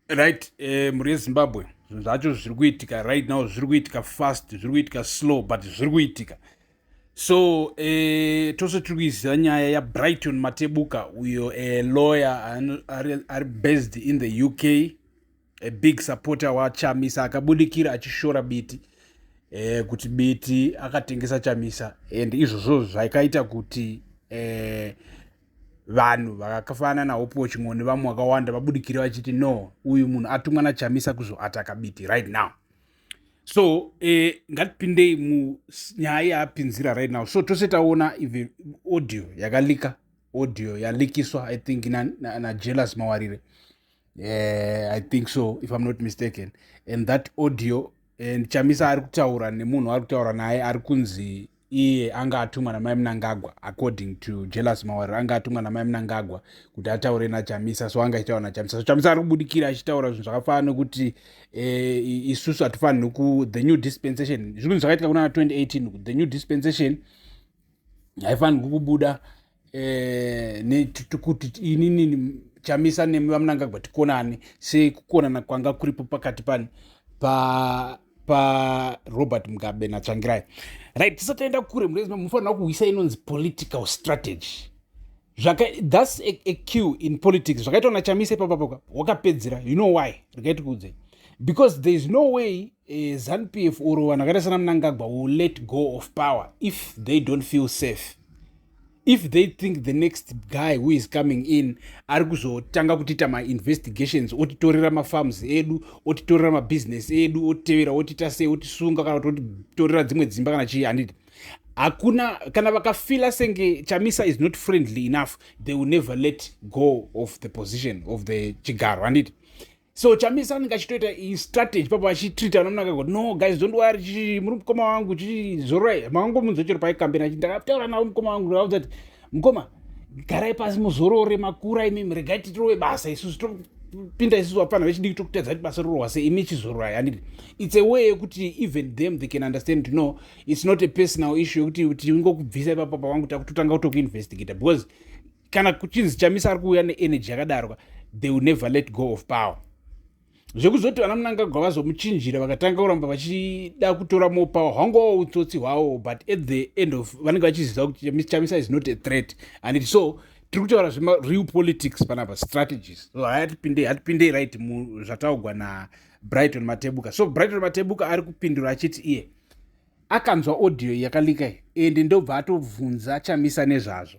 right eh, mhuri yezimbabwe zvinhu zvacho zviri kuitika right now zviri kuitika fast zviri kuitika slow but zviri kuitika so eh, tose tiri kuiziva nyaya yabrighton matebuka uyo eh, lawyer ari, ari based in the uk a big supporter wachamisa akabudikira achishora biti eh, kuti biti akatengesa chamisa and izvozvo zvakaita kuti eh, vanhu vakafanana nahope waching'o nevamwe vakawanda vabudikire vachiti no uyu munhu atumwa nachamisa kuzoataka biti right now so eh, ngatipindei munyaya yaapinzira right now so tose taona even audio yakalika audio yalikiswa i think najealous na, na mawarire eh, i think so if i'm not mistaken and that audio and chamisa ari kutaura nemunhu ari kutaura naye ari kunzi iye anga atumwa namai munangagwa according to jealous mawariro anga atumwa namai munangagwa kuti ataure nachamisa so anga achitaura nachamisa so chamisa ari kubudikira achitaura zvinhu zvakafanana nokuti eh, isusu hatifanirwi ku the new dispensation zvinhu zvakaitika kuna 2018 the new dispensation haifanirwi kubuda eh, kuti inini chamisa nemi vamunangagwa tikonane sei kukonana kwanga kuripo pakati pani pa parobert mugabe natsvangirai right tisatoenda kure murezima munofanira kuhwisa inonzi political strategy zvaka thus a, a q in politics zvakaitwa nachamisa ipapapoka wakapedzera you know why rikaiti kuudzei because there is no way uh, zanupf or vanhu vakaita sana munangagwa will let go of power if they don't feel safe if they think the next guy who is coming in ari kuzotanga kutiita mainvestigations otitorera mafarms edu otitorera mabusiness edu otitevera otiita sei otisunga kana kuti otitorera dzimwe dzimba kana chii handiti hakuna kana vakafila senge chamisa is not friendly enough they will never let go of the position of the chigaro handiti so chamisa anenge achitoita strategy papo achitreata vana munaka kuti no guys don't worry chii muri mukoma wangu chii zororai makangomunzwa chero paikambeni achi ndakataura navo mukoma wangu ndikauza kuti mukoma garai pasi muzorore makura imimi regai titirove basa isusu topinda isusu vapfana vechidiki tokutadza kuti basa rorwa se imi chizororai handiti its a way yekuti even them they can understand to know its not a personal issue yekuti tingokubvisa ipapapa wangu takutotanga kutokuinvestigata because kana kuchinzi chamisa ari kuuya neenergy yakadarwa they will never let go of power zvekuzoti vana munangagwa vazomuchinjira vakatanga kuramba vachida kutora more power hwangowo utsotsi hwawo but at the end of vanenge vachiziva kuti chamisa is not a threat and it so tiri kutaura zvereal politics panapa strategies so hatipindei hatipindei right zvataugwa nabrighton matebuka so brighton matebuka ari kupindura achiti iye yeah akanzwa audio yakalika iyi ende ndobva atovhunza chamisa nezvazvo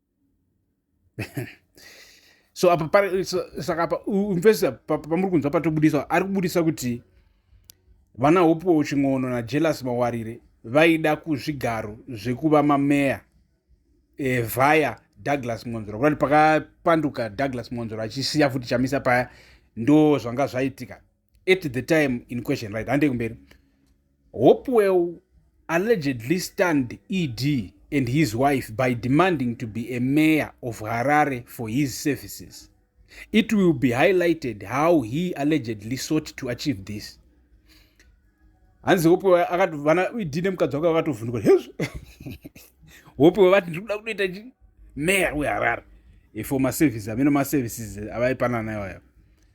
so apa saka apa mfesi pamuri kunzwa patobudisa ari kubudisa kuti vana hopuwo chin'ono najelas mawarire vaida kuzvigaro zvekuva mameya e, vaya douglas mwonzora kurati pakapanduka douglas mwonzora achisiya futi chamisa paya ndo zvanga zvaitika at the time in question right hande kumberi hopewell allegedly stand ed and his wife by demanding to be a mayor of harare for his services it will be highlighted how he allegedly sought to achieve this hanzi hopewell akatovana ed nemukadzi wake vakatovhunduka hezvo hopewell vati ndiri kuda kunoita chi mayor weharare for maservices amene maservices avaipanana iwayo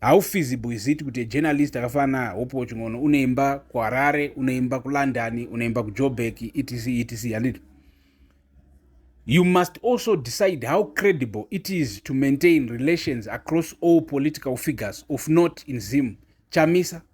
how feasible is it kuti ajournalist akafanana hope wachingono unoimba kuharare unoimba kulondon unoimba kujobek etc etc handiti you must also decide how credible it is to maintain relations across all political figures of not in zim chamisa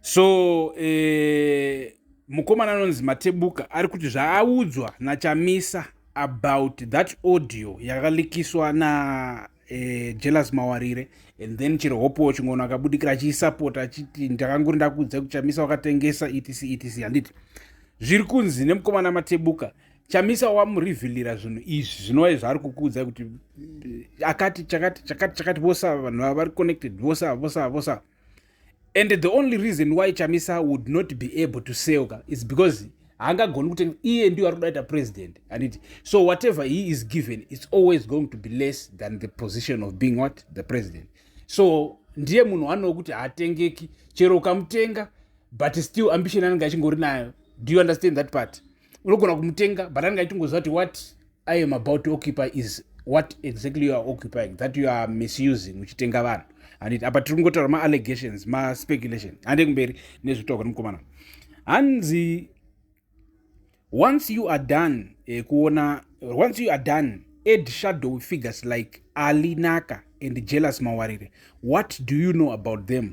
so eh, mukomana anonzi matebuka ari kuti zvaaudzwa nachamisa about that audio yakalikiswa na eh, jealous mawarire and then chero hope wachingoona akabudikira achiisapota achiti ndakangori ndakuudza kuchamisa wakatengesa etc etc handiti zviri kunzi nemukomana matebuka chamisa wamurivhilira zvinhu izvi zvinova zvaari kukuudza kuti eh, akati chakati chakati chakati vose ava vanhu ava vari connected vose ava vose ava vose ava and the only reason why chamisa would not be able to selka is because haangagoni kuti iye ndiyo ari kudaita president anditi so whatever he is given its always going to be less than the position of being what the president so ndiye munhu anowo kuti haatengeki chero ukamutenga but still ambition anenge achingori nayo do you understand that part unogona kumutenga but anenge achitongoziva kuti what i am about to occupy is what exactly you are occupying that you are misusing uchitenga vanhu handiti apa tiri kungotaura maallegations maspeculation hande kumberi nezvekutaura kwemukomana hanzi once you are done eh, kuona once you are done ed shadow figures like ali naka and jealous mawarire what do you know about them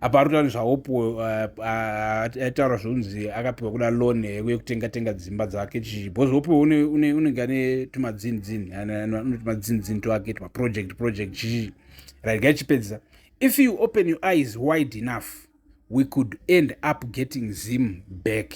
apa ari kutaura zvahope eh, eh, aitaura zvokunzi akapiwa kuda loan yekutenga tenga dzimba dzake chii bcause hope unenge ane tumadzinzin tumadzinzin twake tumaproject project chii raiga ichipedzisa if you open your eyes wide enough we could end up getting zim back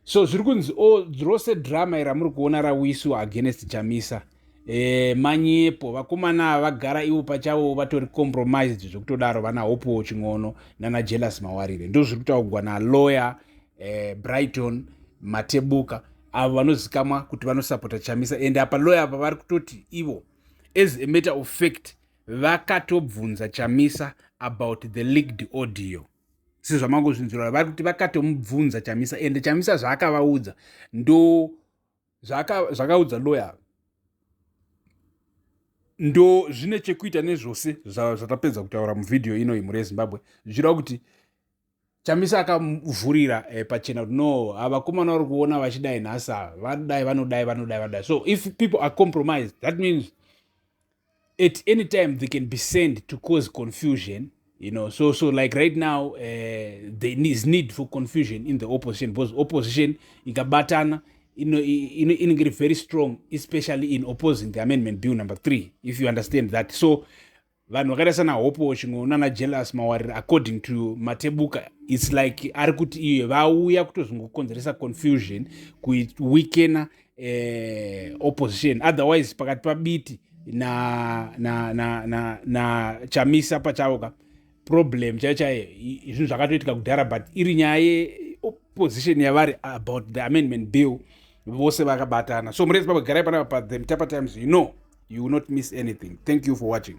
so zviri kunzi o oh, rose drama ira muri kuona rawisu against chamisa e, manyepo vakomana ava vagara ivo pachavo vatori compromised zvekutodaro vana hopewo chin'ono nana jealous mawarire ndo zviri kutaugwa nalawyer e, brighton matebuka avo vanozikamwa kuti vanosapota chamisa ende apa lawyer apa vari kutoti ivo as a matter of fact vakatobvunza chamisa about the leaked audio sezvamangozvinzwira vari kuti vakatomubvunza chamisa ende chamisa zvaakavaudza ndo zvakaudza loya ndo zvine chekuita nezvose zvatapedza kutaura muvhidhiyo ino imhuri yezimbabwe zvichireva kuti chamisa akamuvhurira eh, pachena kuti no avakomana vari kuona vachidai nhasi ava vanodai vanodai vanodai vanodai so if people are compromised that means at any time they can be sent to cause confusion you know so so like right now uh, there is need for confusion in the opposition because opposition ikabatana inenge iri very strong especially in opposing the amendment bill number three if you understand that so vanhu vakaita sana hope watching nana jealous mawarira according to matebuka its like ari kuti iye vauya kutozongokonzeresa confusion kuweakena eh, opposition otherwise pakati pabiti na, na, na, na, na chamisa pachavo ka problem chaiyo chaiyo zvinhu zvakatoitika kudhara but iri nyaya yeopposition yavari about the amendment bill vose vakabatana so murezi pabagarai panapa pa the mtapa times you know you will not miss anything thank you for watching